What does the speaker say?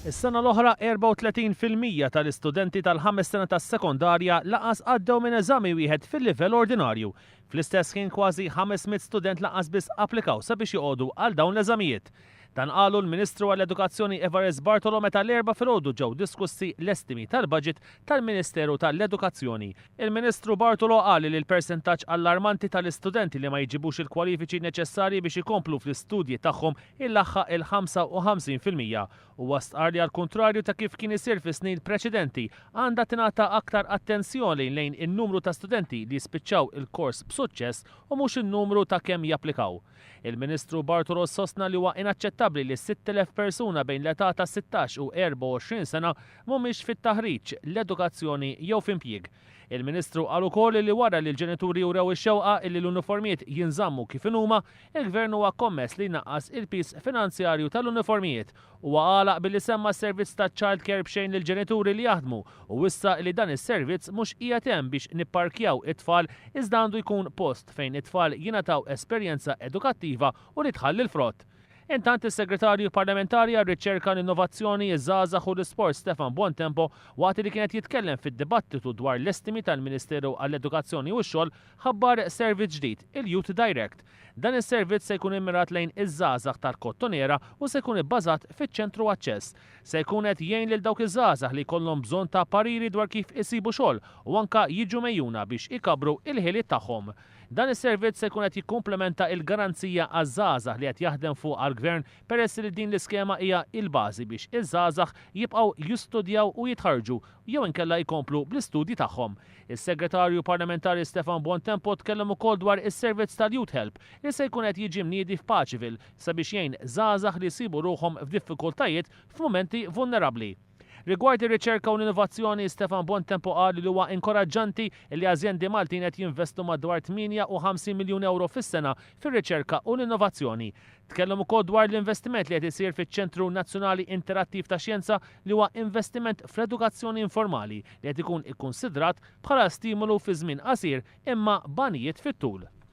Is-sena l-oħra 34 fil-mija tal-istudenti tal-ħames sena tas-sekondarja lanqas għaddew minn eżami wieħed fil-livell ordinarju. Fl-istess ħin kważi 500 student lanqas biss applikaw sabiex joqogħdu għal dawn l-eżamijiet. Dan qalu l-Ministru għall-Edukazzjoni Evarist Bartolo meta l-Erbgħa filgħodu ġew diskussi l-estimi tal-budget tal-Ministeru tal-Edukazzjoni. Il-Ministru Bartolo qal li l-persentaġġ allarmanti tal-istudenti li ma jġibux il-kwalifiċi neċessarji biex ikomplu fl-istudji tagħhom ilaħħaq il-55 fil-mija. Huwa stqarr li għall-kuntrarju ta' kif kien isir fis-snin preċedenti, għandha tingħata aktar attenzjoni lejn in-numru ta' studenti li jispiċċaw il-kors b'suċċess u mhux in-numru ta' kemm japplikaw. Il-Ministru Bartolo sostna li huwa inaċċettabbli li 6,000 persuna bejn l-età ta' 16 u 24 sena mhumiex fit-taħriġ, l-edukazzjoni jew f'impjieg. Il-Ministru qal ukoll li wara li l-ġenituri wrew ix-xewqa li l-uniformijiet jinżammu kif inhuma, il-Gvern huwa kommess li jnaqqas il-piż finanzjarju tal-uniformijiet. Huwa għalaq billi semma s-servizz ta' Child Care b'xejn lill-ġenituri li jaħdmu u wissa li dan is-servizz mhux qiegħed hemm biex nipparkjaw it-tfal iżda għandu jkun post fejn it-tfal jingħataw esperjenza edukattiva u li tħalli l-frott. Intant is-Segretarju Parlamentari għar-Riċerka, l-Innovazzjoni, iż-Żgħażagħ u l-Isport Stefan Buontempo waqt li kien qed jitkellem fid-dibattitu dwar l-estimi tal-Ministeru għall-Edukazzjoni u x-Xogħol ħabbar servizz ġdid, il-Youth Direct. Dan is-servizz se jkun immirat lejn iż-żgħażagħ tal-Kottonera u se jkun ibbażat fiċ-Ċentru Aċċess. Se jkun qed jgħin lil dawk iż-żgħażagħ li jkollhom bżonn ta' pariri dwar kif isibu xogħol u anke jiġu megħjuna biex ikabbru il-ħiliet tagħhom. Dan is-servizz se jkun qed jikkumplementa il-Garanzija għaż-Żgħażagħ li qed jaħdem fuqha l-Gvern peress li din l-iskema hija il-bażi biex iż-żgħażagħ jibqgħu jistudjaw u jitħarrġu jew inkella jkomplu bl-istudji tagħhom. Is-Segretarju Parlamentari Stefan Bontempo tkellem ukoll dwar is-servizz tal-Youth Help li se jkun qed jiġi mniedi f'Paceville sabiex jgħin żgħażagħ li jsibu ruħhom f'diffikultajiet f'mumenti vulnerabbli. Rigward ir-riċerka u l-innovazzjoni, Stefan Bontempo qal li huwa inkoraġġanti li azjendi Maltin qed jinvestu madwar 58 miljun ewro fis-sena fir-riċerka u l-innovazzjoni. Tkellem ukoll dwar l-investiment li qed isir fiċ-Ċentru Nazzjonali Interattiv ta' Xjenza li huwa investiment fl-edukazzjoni informali li qed ikun ikkunsidrat bħala stimolu fi żmien qasir imma b'għanijiet fit-tul.